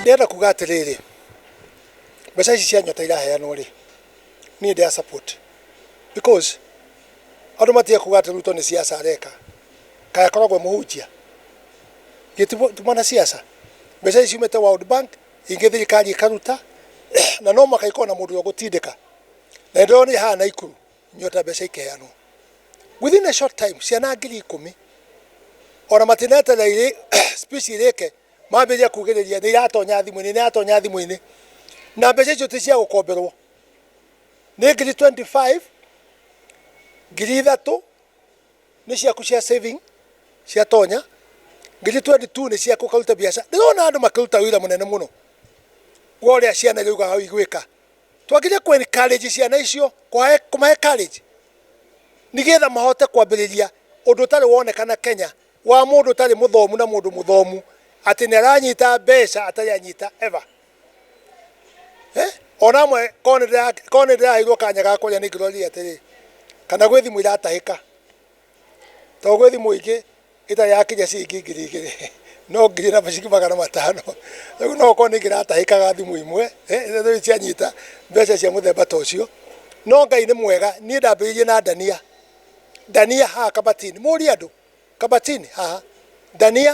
ndĩrenda kuga atĩrĩrĩ mbeca ici cia nyota iraheanwo rĩ niĩ ndĩa support because andũ matige kuga atĩ ruto nĩ siasa areka kaĩ akoragwo mũhunjia gĩ ti mũ- ti mwana siasa mbeca ici ciumĩte world bank ingĩ thirikari ĩkaruta na no mũhaka ikorwo na mũndũ ũrĩa ũgũtindĩka na nĩ ndĩrona nĩ haha naikuru nyota mbeca ikeheanwo within a short time ciana ngiri ikũmi ona matineterera irĩ speech irĩke mambĩrĩria kugĩrĩria nĩ iratonya thimũ-inĩ nĩ iratonya thimũ-inĩ na mbeca icio ti cia gũkomberwo nĩ ngiri 25 ngiri ithatũ nĩ ciaku cia saving cia tonya ngiri 22 nĩ ciaku ũkaruta biacara ndĩrona andũ makĩruta wĩra mũnene mũno wa ũrĩa ciana irauga hau igwĩka Twagĩrĩire kũ encourage ciana icio, kũma encourage nĩgetha mahote kwambĩrĩria ũndũ ũtarĩ wonekana Kenya wa mũndũ ũtarĩ mũthomu na mũndũ mũthomu atĩ nĩ aranyita mbeca atarĩ anyita ever. Ona amwe korwo nĩ ndĩraheirwo kanya ga kũrĩa nĩ ngĩrorire atĩrĩ, kana gwĩ thimũ iratahĩka. Tondũ gwĩ thimũ ingĩ ĩtarĩ yakinya ciringi ngiri igĩrĩ, no ngiri na ciringi magana matano. Rĩu no gũkorwo nĩ ngĩratahĩkaga thimũ imwe, rĩrĩa cianyita mbeca cia mũthemba ta ũcio. No Ngai nĩ mwega, niĩ ndambĩrĩirie na ndania, ndania haha kabati-inĩ. Mũrie andũ, kabati-inĩ haha, ndania.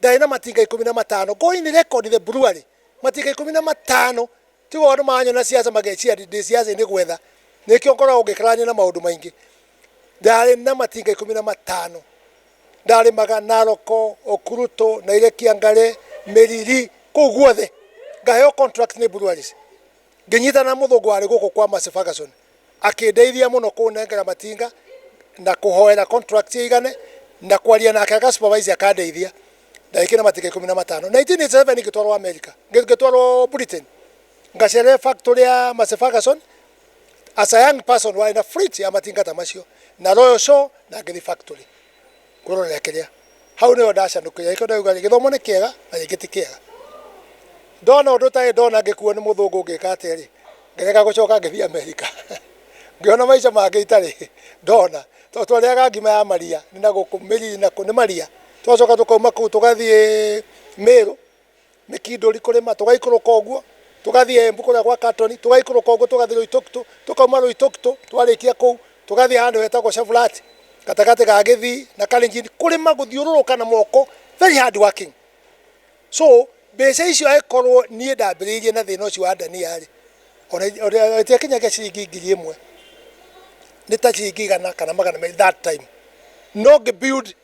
ndarĩ na matinga ikũmi na matano go in record the brewery matinga ikũmi na matano tigo andũ maranyona siasa mageciria ndĩ- ndĩ siasa-inĩ gwetha nĩkĩo ngoragwo ngĩkararania na maũndũ maingĩ ndarĩ na matinga ikũmi na matano ndarĩmaga naroko okuruto na ile kiangare mĩriri kũu guothe ngaheo contract nĩ breweries ngĩnyitana na mũthũngũ warĩ gũkũ kwa Massey Ferguson Akĩndeithia mũno kũnengera matinga na kũhoera contract ĩigane na kwaria nake aka supervise akandeithia na ĩkĩre matinga ikũmi na matano. 1987 ngĩtwarwo America, ngĩtwarwo Britain ngacerere factory ya Massey Ferguson as a young person warĩ na fleet ya matinga ta macio na Royal Shore na ngĩthiĩ factory. Kũrorera kĩrĩa. Hau nĩho ndacanũkĩire. Nĩkĩo ndauga rĩ, gĩthomo nĩ kĩega na rĩngĩ ti kĩega. Ndona ũndũ ũtarĩ ndona ngĩkuo nĩ mũthũngũ ngĩka atĩa rĩ, ngĩrega gũcoka ngĩthiĩ Amerika. Ngĩona maica mangĩ itarĩ ndona. Tondũ twarĩaga ngima ya maria, nĩ na gũkũ, mĩri nĩ maria. Tũgacoka tũkauma kũu tũgathiĩ Mĩrũ. nĩ Kindori kũrĩma, tũgaikũrũka ũguo tũgathiĩ Embu kũrĩa gwa Carton, tũgaikũrũka ũguo tũgathiĩ Loitoktok, tũkauma Loitoktok twarĩkia kũu tũgathiĩ handũ hetagwo Chevirat gatagatĩ ga Gĩthii na Kalenjin, kũrĩma gũthiũrũrũka na moko very hard working. So mbeca icio angĩkorwo niĩ ndambĩrĩirie na thĩna ũcio wa ndania-rĩ, ona ona itiakinyagia ciringi ngiri ĩmwe, nĩ ta ciringi igana kana magana merĩ that time, no ngĩ build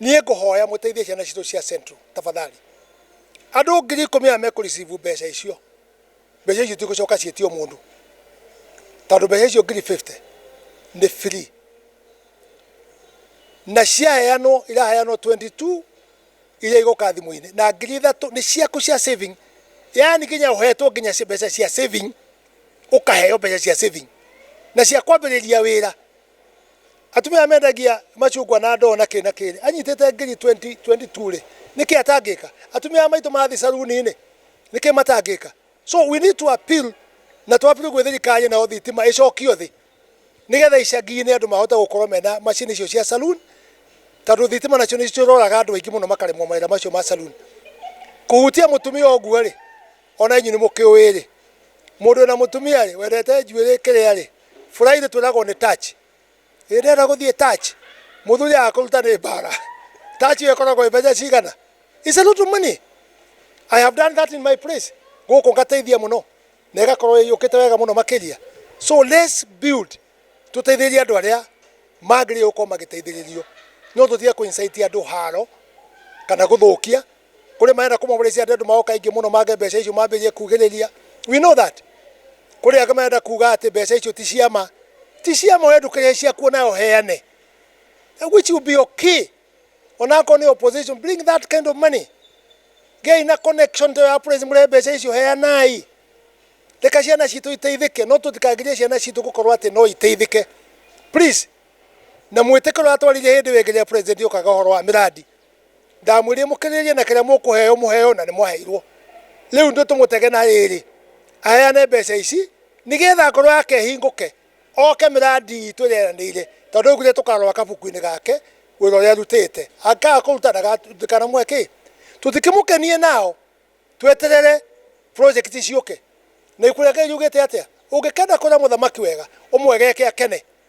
niĩ ngũhoya mũteithie ciana citũ cia central tafadhali andũ ngiri ikũmi aya mekũ receive mbeca icio mbeca icio itigũcoka ciĩtio mũndũ tondũ mbeca icio ngiri 50 nĩ free na ciaheanwo iraheanwo 22 iria igoka thimũ-inĩ na ngiri ithatũ nĩ ciaku cia saving yani nginya ũhetwo nginya ci- mbeca cia saving ũkaheo mbeca cia saving na cia kwambĩrĩria wĩra Atumia mendagia macungwa na ndoo na kĩ na kĩ rĩ, anyitĩte ngiri 20, 22 rĩ, nĩkĩ atangĩka? Atumia maitũ mathi saruni rĩ, nĩkĩ matangĩka? So we need to appeal na tũ appeal gwĩ thirikari nayo thitima ĩcokio thĩ nĩgetha icagi-inĩ andũ mahote gũkorwo mena macini icio cia saloon tondũ thitima nacio nĩ ciũragaga andũ aingĩ mũno makaremwo mawĩra macio ma saloon. Kũhutia mũtumia ũguo rĩ, ona inyuĩ nĩ mũkĩũĩ rĩ, mũndũ wĩna mũtumia rĩ, wendete njuĩrĩ kĩrĩa rĩ, Friday twĩragwo nĩ touch. Hĩndĩ ĩrĩa ndĩrenda gũthiĩ touch, mũthuri aga kũruta nĩ mbara. Touch ĩyo ĩkoragwo ĩ mbeca cigana? It's a lot of money. I have done that in my place. Gũkũ ngateithia mũno na ĩgakorwo ĩyũkĩte wega mũno makĩria. So let's build tũteithĩrĩrie andũ arĩa magĩrĩirwo gũkorwo magĩteithĩrĩrio. No tũtige kũ incite andũ haro kana gũthũkia. Kũrĩ marenda kũmomorĩcia andũ andũ magoka aingĩ mũno mange mbeca icio mambĩrĩrie kugĩrĩria. We know that. Kũrĩ angĩ marenda kuga atĩ mbeca icio ti cia ma. Ti cia ma we ndũkĩrĩhe ciaku onawe ũheane. Which will be okay. Onakorwo nĩ opposition bring that kind of money. Gĩai na connection ta ĩyo ya Praise mũrehe mbeca icio heanai. Reka ciana citũ iteithĩke no tũtikagirie ciana citũ gũkorwo atĩ no iteithĩke. Please. Na mwĩtĩkĩre ũrĩa twaririe hĩndĩ ĩyo ĩngĩ rĩrĩa President okaga ũhoro wa mĩrandi. Ndamwĩrire mũkĩrĩrĩrie na kĩrĩa mũkũheo mũheo na nĩmwaheirwo. Rĩu nĩ tũmũtege na rĩrĩ, aheane mbeca ici nĩ getha ngoro yake ĩhingũke, oke mĩrandi itũ ĩrĩa eranĩire, tondũ augire tũkarora kabuku-inĩ gake wĩra ũrĩa arutĩte. Angĩkaga kũruta ndikanamũhe kĩ? Tũtikĩmũkenie nao tweterere project ciũke. Na ibuku rĩake riugĩte atĩa? Ũngĩkenda kwĩra mũthamaki wega, ũmwegeke akene.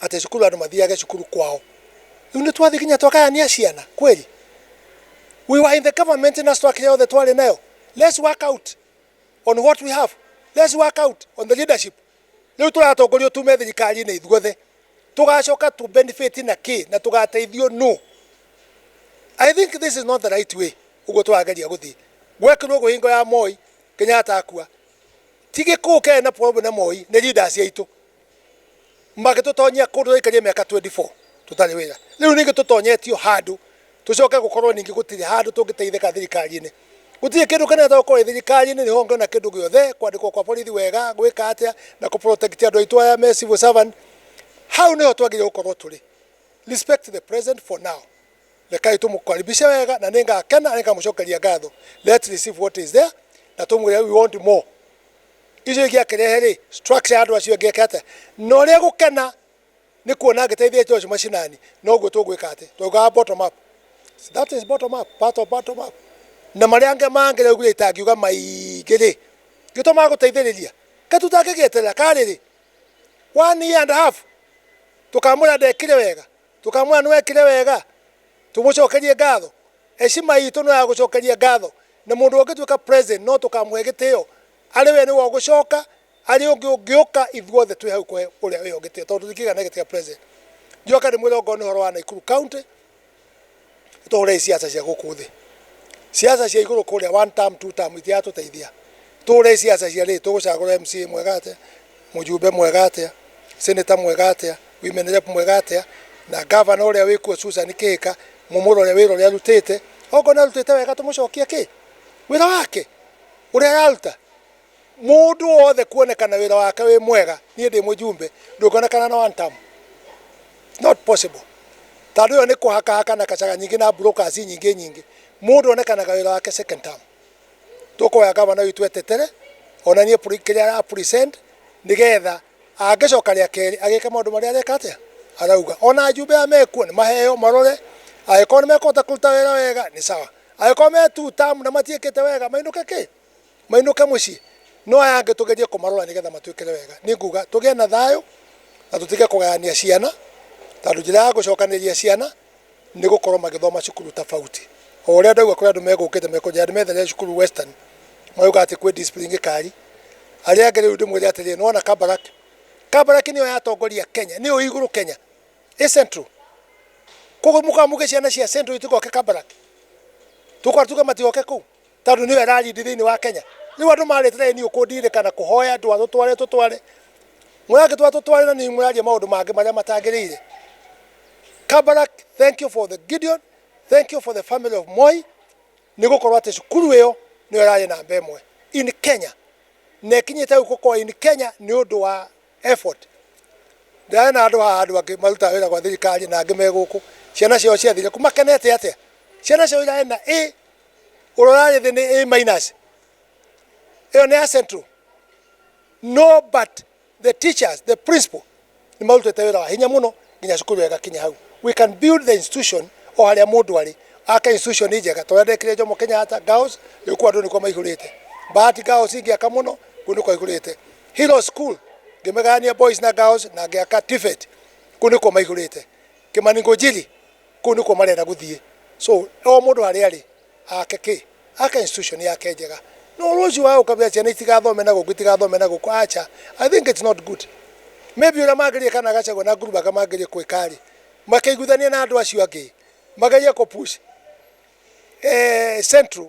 atĩ cukuru andũ mathiage cukuru kwao. Rĩu nĩ twathiĩ nginya twakayania ciana kweli? We were in the government na structure yothe twarĩ nayo. Let's work out on what we have. Let's work out on the leadership. Rĩu tũratongorio tume thirikari-inĩ ithuothe. Tũgacoka tu benefit na kĩ na tũgateithio nũ? I think this is not the right way ũguo tũrageria gũthiĩ. Gwekirwo ũguo hingo ya Moi, Kenyatta akua. Ti gĩkũũ kĩarĩ na problem na Moi, nĩ leaders aitũ. magĩtũtonyia kũndũ twaikaria mĩaka 24 tũtarĩ wĩra rĩu ningĩ tũtonyetio handũ tũcoke gũkorwo ningĩ gũtirĩ handũ tũngĩteithĩka thirikari-inĩ gũtirĩ kĩndũ kĩnene tũkorwo thirikari-inĩ nĩ honge ona kĩndũ gĩothe kwandĩkwo kwa borithi wega gwĩka atĩa na kũ protect andũ aitũ aya me civil servant hau nĩho twagĩrĩire gũkorwo tũrĩ respect the president for now rekai tũmũkaribishe wega na nĩ ngakena na nĩ ngamũcokeria ngatho let receive what is there na tũmwĩre we want more Icio ingĩakĩrehe rĩ, structure ya andũ acio ĩngĩka atĩa? Na ũrĩa gũkena nĩ kuona angĩteithia indo icio macinani, noguo tũgwĩka atĩ, twaugaga bottom up. That is bottom up, part of bottom up. Na marĩa angĩ mangĩ rĩu nginya itangiuga maingĩ rĩ, nĩ to ma gũteithĩrĩria. Kaĩ tũtangĩgĩeterera, karĩ rĩ, one year and a half, tũkamwĩra ndekire wega? Tũkamwĩra nĩ wekire wega, tũgũcokerie ngatho. Heshima itũ no ya gũcokeria ngatho. Na mũndũ ũngĩtuĩka president no tũkamũhe gĩtĩo, arĩ we nĩwe ũgũcoka, arĩ ũngĩ ũngĩũka ithuothe twĩ hau kũhe ũrĩa wĩ ho gĩtĩo tondũ tũtingĩgĩa na gĩtĩ gĩa president. Njoke ndĩmwĩre ongorwo nĩ ũhoro wa Nakuru County, Tũhũre siasa cia gũkũ thĩ. Siasa cia igũrũ kũrĩa one term, two term itiratũteithia. Tũhũre siasa cia rĩrĩ, tũgũcagũra MCA mwega atĩa, mũjumbe mwega atĩa, senator mwega atĩa, women rep mwega atĩa, na governor ũrĩa wĩ kuo Susan Kĩhĩka, mũmũrore wĩra ũrĩa arutĩte. Okorwo nĩ arutĩte wega tũmũcokie kĩ? Wĩra wake, ũrĩa araruta. Mũndũ wothe kuonekana wĩra wake wĩ mwega, niĩ ndĩ mũjumbe, ndũngĩonekana na one term. It's not possible. Tondũ ĩyo nĩ kũhakahaka na kacaga nyingĩ na brokers nyingĩ nyingĩ. Mũndũ onekanaga wĩra wake second term. Tũkũhoya gavana witũ etetere, onanie kĩrĩa ara present, nĩgetha angĩcoka rĩa kerĩ, agĩke maũndũ marĩa areka atĩa? Arauga. Ona ajumbe aya mekuo, nĩ maheo marore, angĩkorwo nĩ mekũhota kũruta wĩra wega, nĩ sawa. Angĩkorwo me two term na matiĩkĩte wega, mainũke kĩ? mainũke mũciĩ no aya angĩ tũgerie kũmarora nĩgetha matwĩkĩre wega nĩ nguga tũgĩe na thayũ na tũtige kũgayania ciana tondũ njĩra ya gũcokanĩrĩria ciana nĩ gũkorwo magĩthoma cukuru tofauti o ũrĩa ndaigua kũrĩ andũ megũkĩte mekũnjĩra nĩ methere cukuru western magauga atĩ kwĩ discipline ngĩkari arĩa angĩ rĩu ndĩmwĩre atĩrĩrĩ nĩ wona kabarak kabarak nĩyo yatongoria kenya nĩyo ĩ igũrũ kenya ĩ central koguo mũkaga muge ciana cia central itigoke kabarak tũkwara tuge matigoke kũu tondũ nĩwe rarindi thĩinĩ wa Kenya. Rĩu andũ marĩtereire niĩ kũndirika na kũhoya ndwa tũtware tũtware, mũrangĩtwara tũtware na niĩ mũraria maũndũ mangĩ marĩa matagĩrĩire. Kabarak, thank you for the Gideon, thank you for the family of Moi, nĩ gũkorwo atĩ cukuru ĩyo nĩyo ĩrarĩ namba ĩmwe in Kenya, na ĩkinyĩte gũkũ kwa in Kenya nĩ ũndũ wa effort. Ndĩrarĩ andũ haha andũ angĩ marutaga wĩra gwa thirikari na angĩ me gũkũ, ciana ciao ciathire kũ makenete atĩa? Ciana ciao irarĩ na A Ũrora thĩ nĩ A minus. Ĩyo nĩ ya Central. No but the teachers, the principal nĩ marutĩte wĩra wa hinya mũno nginya cukuru ĩyo ĩgakinya hau. We can build the institution o harĩa mũndũ arĩ. Ake institution njega ta ũrĩa ndekire Jomo Kenyatta Girls, rĩu kũu andũ nĩkuo maihũrĩte. Bahati Girls ingĩaka mũno, kũu nĩkuo aihũrĩte. Hero School ngĩmĩgayania boys na girls na ngĩaka TVET, kũu nĩkuo maihũrĩte. Kimani Ngunjiri Kũu nĩkuo marenda gũthiĩ. So, o mũndũ harĩa arĩ, ake kĩ? Ake institution yake njega. No rũciũ wage gũkabira ciana itigathome na gũkũ, itigathome na gũkũ, aca. I think it's not good. Maybe ũrĩa mangĩrĩire kana Gachagua na Ngurubaga mangĩrĩire kwĩka-rĩ, makeiguithania na andũ acio angĩ, magerie kũ push Central.